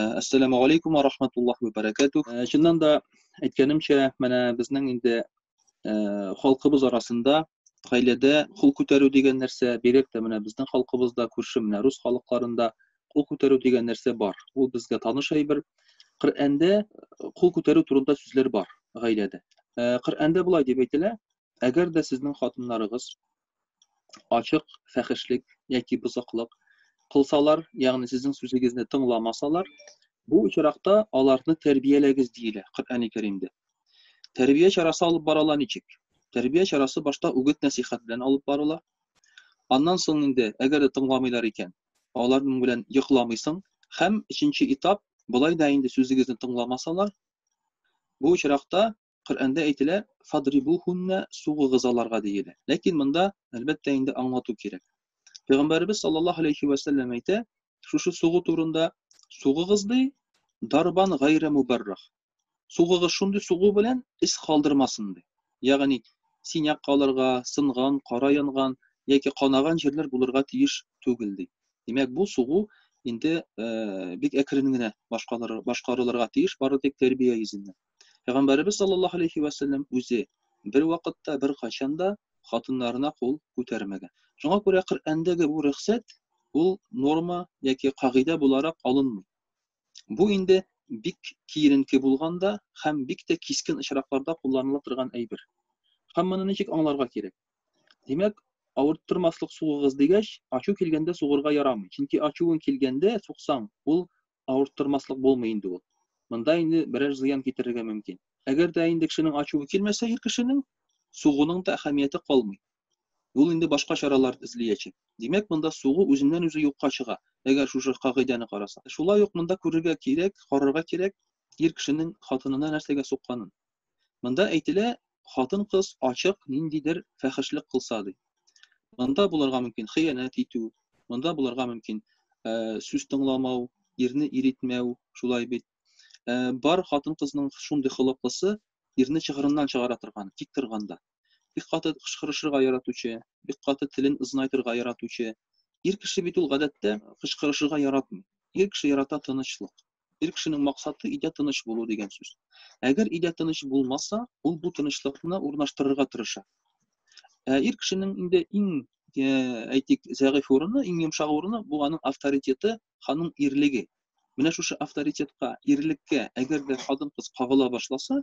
Әссәламу алейкум ва рахматуллах ва баракатух. Чыннан да әйткәнемчә, менә безнең инде халкыбыз арасында гаиләдә кул күтәрү дигән нәрсә, бигрәк тә менә безнең халкыбызда, күрше менә рус халыкларында кул күтәрү дигән нәрсә бар. Ул безгә таныш әйбер. Коръәндә кул күтәрү турында сүзләр бар гаиләдә. Коръәндә болай дип әйтелә, Әгәр дә сезнең хатыннарыгыз ачык фәхешлек яки бозыклык кылсалар, ягъни сезнең сүзегезне тыңламасалар, бу очракта аларны тәрбияләгез диелә Коръәни Кәримдә. Тәрбия чарасы алып барыла ничек? Тәрбия чарасы башта үгет-нәсыйхәт белән алып барыла. Аннан соң инде, әгәр дә тыңламыйлар икән, аларның белән йокламыйсың һәм өченче этап, болай да инде сүзегезне тыңламасалар, бу очракта Коръәндә әйтелә, Фадрибухунна сугыгыз аларга диелә. Ләкин монда, әлбәттә, инде аңлату кирәк. Пәйгамбәребез саллаллаһу алейхи вә сәлләм әйтә, шушы сугу турында, сугыгыз ди, дарбан гайра мубаррах. Сугыгыз шундый сугу белән ис калдырмасын ди. Ягъни, синяк калырга, сынган, кара янган яки канаган җирләр булырга тиеш түгел ди. Димәк, бу сугу инде э, бик әкрен генә башкарылырга тиеш, бары тик тәрбия йөзеннән. Пәйгамбәребез саллаллаһу алейһи вә сәлләм үзе бервакытта, беркайчан да хатыннарына кул күтәрмәгән. Шуңа күрә Коръәндәге бу рөхсәт ул норма яки кагыйдә буларак алынмый. Бу инде бик киеренке булганда һәм бик тә кискен очракларда кулланыла торган әйбер. Һәм моны ничек аңларга кирәк? Димәк, авырттырмаслык сугыгыз дигәч, ачу килгәндә сугырга ярамый. Чөнки ачуың килгәндә сугсаң, ул авырттырмаслык булмый инде ул. Монда инде берәр зыян китерергә мөмкин. Әгәр дә инде кешенең ачуы килмәсә ир кешенең, сугуның да әһәмияте калмый. Ул инде башка чаралар эзлиячәк. Димәк, монда сугу үзеннән-үзе юкка чыга, әгәр шушы кагыйдәне караса. Шулай ук монда күрергә кирәк, карарга кирәк ир кешенең хатынына нәрсәгә сукканын. Монда әйтелә, хатын-кыз ачык ниндидер фәхешлек кылса ди. Монда булырга мөмкин хыянәт итү, монда булырга мөмкин э, сүз тыңламау, ирне иритмәү, шулай бит. Э, бар хатын-кызның шундый холыклысы ирне чыгырыннан чыгара торган, тик торганда. Бик каты кычкырышырга яратучы, бик каты телен ызнайтырга яратучы. Ир кеше бит ул гадәттә кычкырышырга яратмый. Ир кеше ярата тынычлык. Ир кешенең максаты өйдә тыныч булу дигән сүз. Әгәр өйдә тыныч булмаса, ул бу тынычлыкны урнаштырырга тырыша. Ә ир кешенең инде иң э, әйтик, зәгыйфь урыны, иң йомшак урыны бу аның авторитеты, ханың ирлеге. Менә шушы авторитетка, ирлеккә, әгәр дә хатын-кыз кагыла башласа,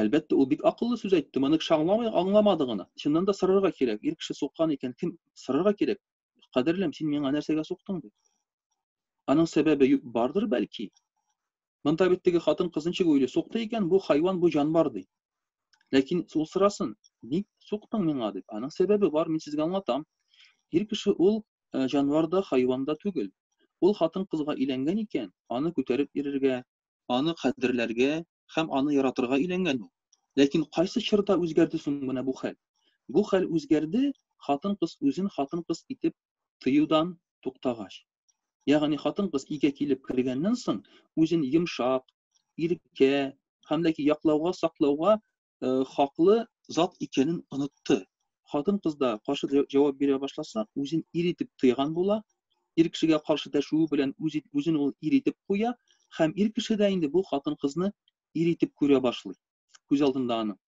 Әлбәттә, ул бик акыллы сүз әйтте, моны кеше аңламый, аңламады гына. Чыннан да сорарга кирәк, ир кеше суккан икән, кем сорарга кирәк? Кадерлем, син миңа нәрсәгә суктың дип. Аның сәбәбе бардыр бәлки. Монда бит теге хатын кыз ничек уйлый, сукты икән, бу хайван, бу җанвар ди. Ләкин ул сорасын, ник суктың миңа дип. Аның сәбәбе бар, мин сезгә аңлатам. Ир кеше ул җанвар да, хайван да түгел. Ул хатын кызга иләнгән икән, аны күтәреп ирергә, аны кадерләргә һәм аны яратырга өйләнгән ул. Ләкин кайсы чорда үзгәрде соң менә бу хәл? Бу хәл үзгәрде, хатын-кыз үзен хатын-кыз итеп тоюдан туктагач. Ягъни хатын-кыз өйгә килеп кергәннән соң, үзен йомшак, иркә һәм ләки яклауга, саклауга э, хаклы зат икәнен онытты. Хатын-кыз да каршы җавап бирә башласа, үзен ир итеп тыйган була, ир кешегә каршы дәшүе белән үзен ул ир итеп куя һәм ир кеше дә инде бу хатын-кызны ир итеп күрә башлый күз алдында аның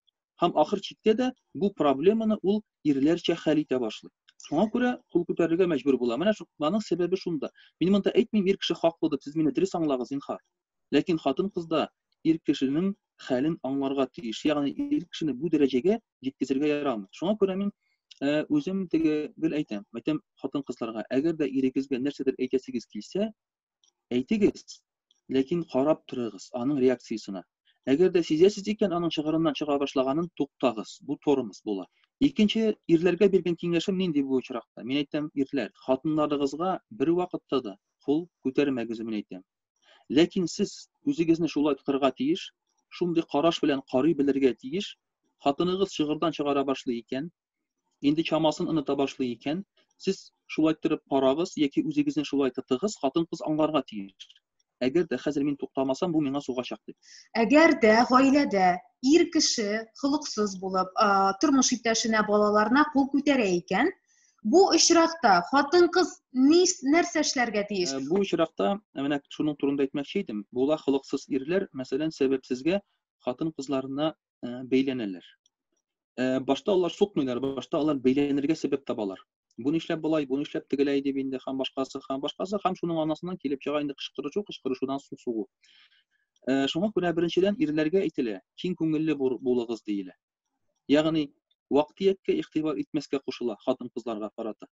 һәм ахыр чиктә дә бу проблеманы ул ирләрчә хәл итә башлый шуңа күрә кул күтәрергә мәҗбүр була менә шуның сәбәбе шунда мин монда әйтмим ир кеше хаклы дип сез мине дөрес аңлагыз зинһар Ләкин хатын-кыз да ир кешенең хәлен аңларга тиеш, ягъни ир кешене бу дәрәҗәгә җиткезергә ярамый. Шуңа күрә мин үзем теге гел әйтәм, әйтәм хатын-кызларга, әгәр дә ирегезгә нәрсәдер әйтәсегез килсә, әйтегез, ләкин карап торыгыз аның реакциясенә. Әгәр дә сизәсез икән, аның чыгырыннан чыга башлаганын туктагыз. Бу тормоз була. Икенче ирләргә биргән киңәшем нинди бу очракта? Мин әйтәм, ирләр, хатыннарыгызга бервакытта да кул күтәрмәгез, мин әйтәм. Ләкин сез үзегезне шулай тотарга тиеш, шундый караш белән карый белергә тиеш, хатыныгыз чыгырдан чыгара башлый икән, инде чамасын оныта башлый икән, сез шулай торып карагыз яки үзегезне шулай тотыгыз, хатын-кыз аңларга тиеш. Әгәр дә хәзер мин туктамасам, бу миңа сугачак дип. Әгәр дә гаиләдә ир кеше холыксыз булып, тормыш иптәшенә, балаларына кул күтәрә икән, Бу очракта хатын-кыз нәрсә эшләргә тиеш? Э, бу очракта э, менә шуның турында әйтмәкче идем. Була холыксыз ирләр, мәсәлән, сәбәпсезгә хатын-кызларына э, бәйләнәләр. Башта алар сукмыйлар, башта алар бәйләнергә сәбәп табалар. Бу нишләп болай, бу нишләп тегеләй дип инде һәм башкасы, һәм башкасы, һәм шуның анасыннан килеп чыга инде кычкырышу, кычкырышудан су сугу. Шуңа күрә беренчедән ирләргә әйтелә, киң күңелле булыгыз диелә. ягъни вак-төяккә игътибар итмәскә кушыла хатын-кызларга карата.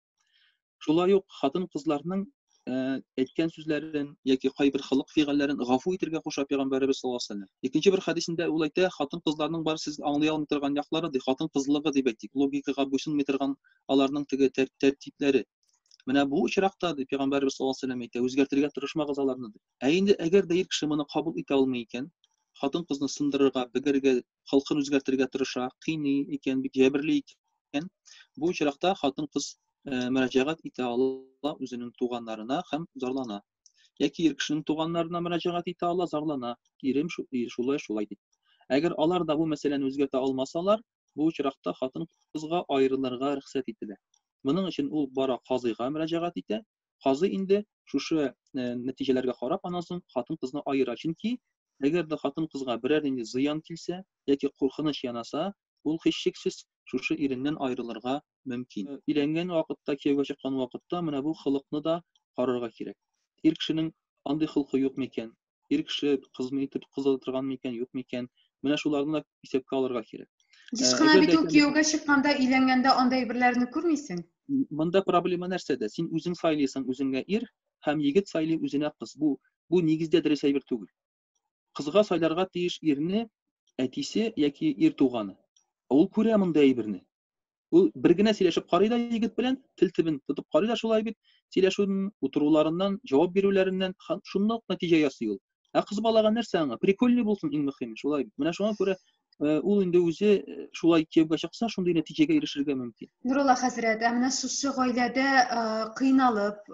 Шулай ук хатын-кызларның әйткән сүзләрен яки кайбер холык-фигыльләрен гафу итергә куша пәйгамбәребез саллаллаһу алейһи ва сәлләм. Икенче бер хәдисендә ул әйтә, хатын-кызларның бар сез аңлый алмый торган яклары, ди, хатын-кызлыгы дип әйтик, логикага буйсынмый торган аларның теге тәртипләре. Менә бу очракта, ди, пәйгамбәребез саллаллаһу алейһи ва сәлләм әйтә, үзгәртергә тырышмагыз аларны, ди. Ә инде әгәр дә ир кеше моны кабул итә алмый икән, хатын-кызны сындырырга, бегәргә халкын үзгәртергә тырыша, кыйный икән, бик җәберли икән, бу очракта хатын-кыз э, мөрәҗәгать итә ала үзенең туганнарына һәм зарлана. Яки ир кешенең туганнарына мөрәҗәгать итә ала, зарлана. Ирем шулай, шулай дип. Әгәр алар да бу мәсьәләне үзгәртә алмасалар, бу очракта хатын-кызга аерылырга рөхсәт ителә. Моның өчен ул бара казыйга мөрәҗәгать итә, Казый инде шушы э, нәтиҗәләргә карап аннан соң хатын-кызны аера. Чөнки әгәр дә хатын-кызга берәр нинди зыян килсә яки куркыныч янаса, ул һичшиксез шушы иреннән аерылырга мөмкин. Э, өйләнгән вакытта, кияүгә чыккан вакытта менә бу холыкны да карарга кирәк. Ир кешенең андый холкы юк микән? ир кеше кызмы итеп кыз ала торган микән, юк микән? Менә шуларны да исәпкә алырга кирәк. Еш кына бит ул кияүгә чыкканда, өйләнгәндә андай берләрне күрмисең. Монда проблема нәрсәдә? Син үзең сайлыйсың үзеңә ир һәм егет сайлый үзенә кыз. Бу бу нигездә дөрес әйбер түгел. Кызга сайларга тиеш ирне әтисе яки ир туганы. Ул күрә монда әйберне. Ул бер генә сөйләшеп карый да егет белән, тел тибен тотып карый да шулай бит, сөйләшүен, утыруларыннан, җавап бирүләреннән шундый ук нәтиҗә ясый ул. Ә кыз балага нәрсә аңа? Прикольный булсын иң мөһиме, шулай бит. Менә шуңа күрә э, ул инде үзе э, шулай кияүгә чыкса, шундый нәтиҗәгә ирешергә мөмкин. Нурулла хәзрәт, ә менә шушы гаиләдә э, кыйналып,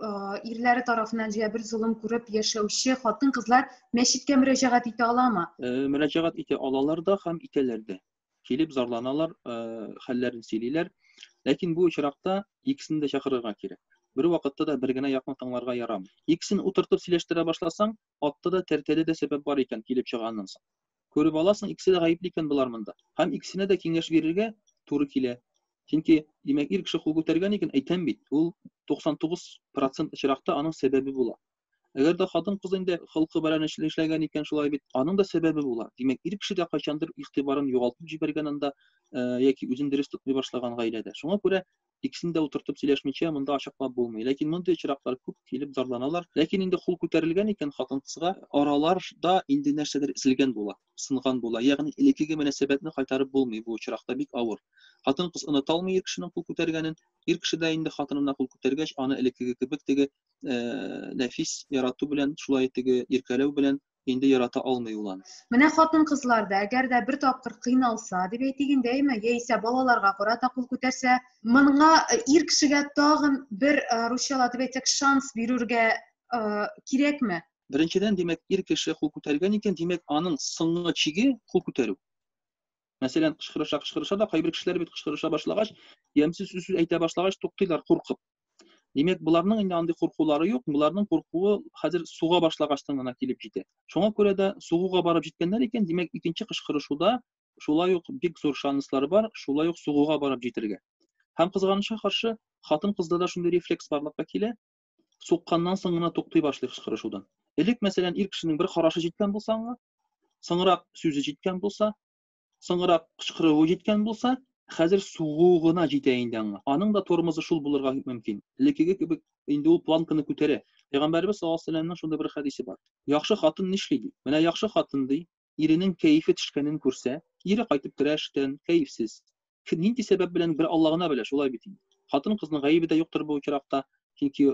ирләре тарафыннан җә бер золым күреп яшәүче хатын-кызлар мәчеткә мөрәҗәгать итә аламы? Мөрәҗәгать итә алалар да һәм итәләр дә. килеп зарланалар, хәлләрен сөйлиләр. Ләкин бу очракта икесен дә чакырырга кирәк. Бер вакытта да бер генә якны тыңларга ярамый. Икесен утыртып сөйләштерә башласаң, атта да тәртәдә дә сәбәп бар икән килеп чыганнан соң. Күреп аласың, икесе дә гаепле икән болар монда. Һәм икесенә дә киңәш бирергә туры килә. Чөнки, димәк, ир кеше кул күтәргән икән, әйтәм бит, ул 99% очракта аның сәбәбе була. Әгәр дә хатын-кыз инде холкы белән эшләгән икән, шулай бит, аның да сәбәбе була. Димәк, ир кеше дә кайчандыр игътибарын югалтып җибәргән анда яки үзен дөрес тотмый башлаган гаиләдә. Шуңа күрә икесен дә утыртып сөйләшмичә монда ачыклап булмый. Ләкин мондый очраклар күп килеп зарланалар. Ләкин инде хул күтәрелгән икән хатын-кызга, араларда инде нәрсәдер эзелгән була, сынган була. Ягъни элеккеге мөнәсәбәтне кайтарып булмый бу очракта, бик авыр. Хатын-кыз оныта алмый ир кешенең кул күтәргәнен. Ир кеше дә инде хатынына кул күтәргәч, аны элеккеге кебек теге ә, нәфис ярату белән, шулай теге иркәләү белән инде ярата алмый ул аны. Менә хатын кызлар да, әгәр дә бер тапкыр кыйналса, дип әйтик инде, әйме, яисә балаларга карата кул күтәрсә, моңа э, ир кешегә тагын бер э, русчала дип әйтсәк, шанс бирергә э, кирәкме? Беренчедән, димәк, ир кеше кул күтәргән икән, димәк, аның соңгы чиге кул күтәрү. Мәсәлән, кычкырыша, кычкырыша да кайбер кешеләр бит кычкырыша башлагач, ямьсез сүз әйтә башлагач туктыйлар куркып. Димәк, боларның инде андый куркулары юк, боларның куркуы хәзер суга башлагачтан гына килеп җитә. Шуңа күрә дә сугуга барып җиткәннәр икән, димәк, икенче кычкырышуда шулай ук бик зур шанслар бар, шулай ук сугуга барып җитергә. Һәм кызганычка каршы, хатын-кызда да шундый рефлекс барлыкка килә, сукканнан соң гына туктый башлый кычкырышудан. Элек, мәсәлән, ир кешенең бер карашы җиткән булса аңа, соңрак сүзе җиткән булса, соңрак кычкыруы җиткән булса, хәзер сугу гына җитә инде аңа. Аның да тормозы шул булырга мөмкин. Элеккеге кебек инде ул планканы күтәрә. Пәйгамбәрбез саллаллаһу алейһи ва сәлләмнең шундый бер хәдисе бар. Яхшы хатын нишли ди? Менә яхшы хатын ди, иренең кәефе төшкәнен күрсә, кире кайтып керә эштән, кәефсез. Кем нинди сәбәп белән, бер Алла гына белә, шулай бит инде. Хатын-кызның гаебе дә юктыр бу очракта, чөнки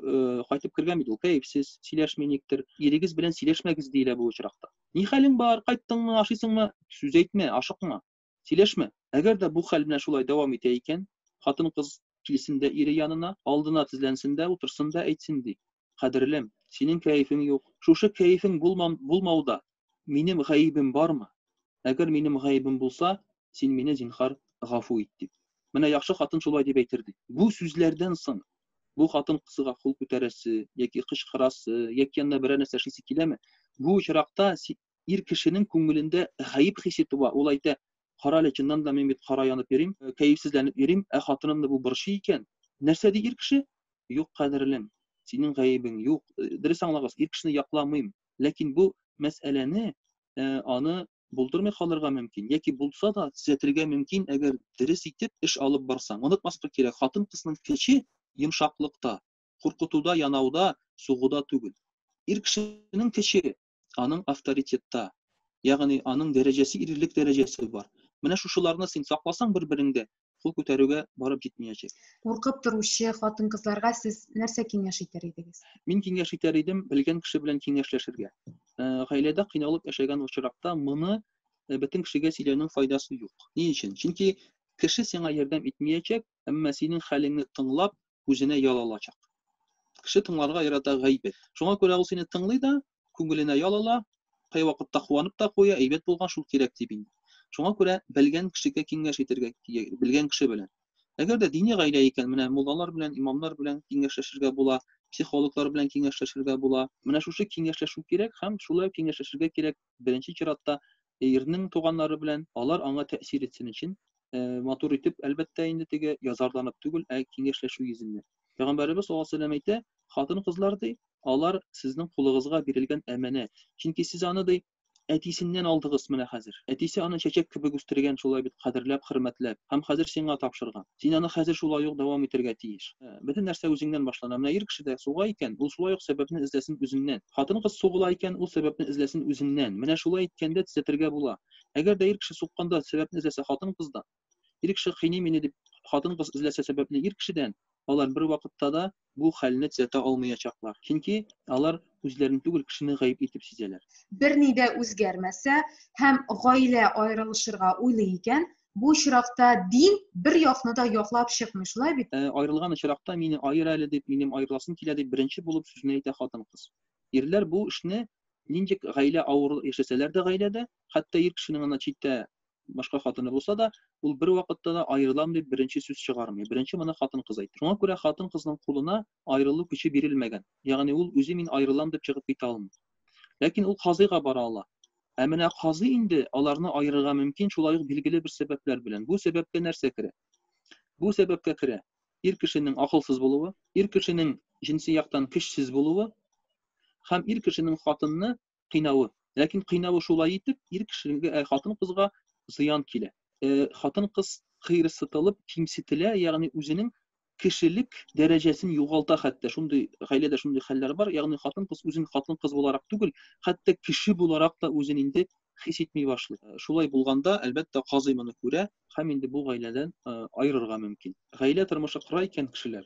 кайтып кергән бит ул кәефсез, сөйләшми никтер. Ирегез белән сөйләшмәгез, диелә бу очракта. Ни хәлең бар, кайттыңмы, ашыйсыңмы? Сүз әйтмә, ашыкма. Сөйләшмә. Әгәр дә бу хәл менә шулай дәвам итә икән, хатын-кыз килсен дә ире янына, алдына тезләнсен дә утырсын да әйтсен ди, Кадерлем, синең кәефең юк. Шушы кәефең булмам, булмауда минем гаебем бармы? Әгәр минем гаебем булса, син мине, зинһар, гафу ит, дип. Менә яхшы хатын шулай дип әйтер, ди. Бу сүзләрдән соң бу хатын-кызга кул күтәрәсе яки кычкырасы, яки янына берәр нәрсә эшлисе киләме? Бу очракта ир кешенең күңелендә гаеп хисе туа, ул әйтә, Карале, чыннан да мин бит кара янып йөрим, кәефсезләнеп йөрим, ә хатынымны бу борчый икән. Нәрсә ди ир кеше? Юк, кадерлем, синең гаебең юк. Дөрес аңлагыз, ир кешене якламыйм, ләкин бу мәсьәләне, аны булдырмый калырга мөмкин, яки булса да, төзәтергә мөмкин, әгәр дөрес итеп эш алып барсаң. Онытмаска кирәк, хатын-кызның көче йомшаклыкта, куркытуда, янауда, сугуда түгел. Ир кешенең көче, аның авторитетта, ягъни аның дәрәҗәсе ирлек дәрәҗәсе бар. Менә шушыларны син сакласаң бер-береңдә, кул күтәрүгә барып җитмиячәк. Куркып торучы хатын-кызларга сез нәрсә киңәш итәр идегез? Мин киңәш итәр идем, белгән кеше белән киңәшләшергә. Э, гаиләдә кыйналып яшәгән очракта моны э, бөтен кешегә сөйләүнең файдасы юк. Ни өчен? Чөнки кеше сиңа ярдәм итмиячәк, әмма синең хәлеңне тыңлап, үзенә ял алачак. Кеше тыңларга ярата гайбәт. Шуңа күрә ул сине тыңлый да, күңеленә ял ала, кайвакытта куанып та куя, әйбәт булган шул кирәк дип инде. Шуңа күрә белгән кешегә киңәш итәргә, белгән кеше белән. Әгәр дә дини гаилә икән, менә муллалар белән, имамнар белән киңәшләшергә була, психологлар белән киңәшләшергә була. Менә шушы киңәшләшү кирәк һәм шулай киңәшләшергә кирәк. беренче чиратта ирнең туганнары белән алар аңа тәэсир итсен өчен э, матур итеп әлбәттә инде теге язарланып түгел ә киңәшләшү йөзеннән пәйгамбәребез саллаллаху алейһи вәсәләм әйтә хатын кызлар ди алар сезнең кулыгызга бирелгән әманәт чөнки сез аны ди әтисеннән алдыгыз менә хәзер әтисе аны чәчәк кебек үстергән шулай бит кадерләп хөрмәтләп һәм хәзер сиңа тапшырган Син аны хәзер шулай ук дәвам итәргә тиеш. Бөтен нәрсә үзеңнән башлана. Менә ир кеше дә суга икән, ул шулай ук сәбәпне эзләсен үзеннән. Хатын-кыз сугыла икән, ул сәбәпне эзләсен үзеннән. Менә шулай иткәндә төзәтергә була. Әгәр дә ир кеше сукканда сәбәпне эзләсә хатын-кыздан, ир кеше кыйный мине дип хатын-кыз эзләсә сәбәпне ир кешедән, алар бервакытта да бу хәлне төзәтә алмыячаклар, чөнки алар үзләрен түгел, кешене гаеп итеп сизәләр. Берни дә үзгәрмәсә һәм гаилә аерылышырга уйлый икән, бу очракта дин бер якны да яклап чыкмый, шулай бит? Ә аерылган очракта, мине аер әле дип, минем аерыласым килә дип, беренче булып сүзне әйтә хатын-кыз. Ирләр бу эшне нинди гаилә авыр яшәсәләр дә гаиләдә, хәтта ир кешенең ана читтә башка хатыны булса да, ул бер вакытта да аерылам дип беренче сүз чыгармый. Беренче моны хатын-кыз әйтә. Шуңа күрә хатын-кызның кулына аерылу көче бирелмәгән. Ягъни ул үзе мин аерылам дип чыгып китә алмый. Ләкин ул казыйга бара ала. Ә менә казый инде аларны аерырга мөмкин шулай ук билгеле бер сәбәпләр белән. Бу сәбәпкә нәрсә керә? Бу сәбәпкә керә ир кешенең акылсыз булуы, ир кешенең җенси яктан көчсез булуы һәм ир кешенең хатынны кыйнавы. Ләкин кыйнавы шулай итеп, ир кешегә, э, хатын-кызга зыян килә. Э, хатын-кыз кыерсытылып, кимсетелә, ягъни үзенең кешелек дәрәҗәсен югалта хәтта. Шундый гаиләдә шундый хәлләр бар. Ягъни хатын-кыз үзен хатын-кыз буларак түгел, хәтта кеше буларак та үзен инде хис итми башлый. Э, шулай булганда, әлбәттә, казый моны күрә һәм инде бу гаиләдән э, аерырга мөмкин. Гаилә тормышы кыра икән кешеләр.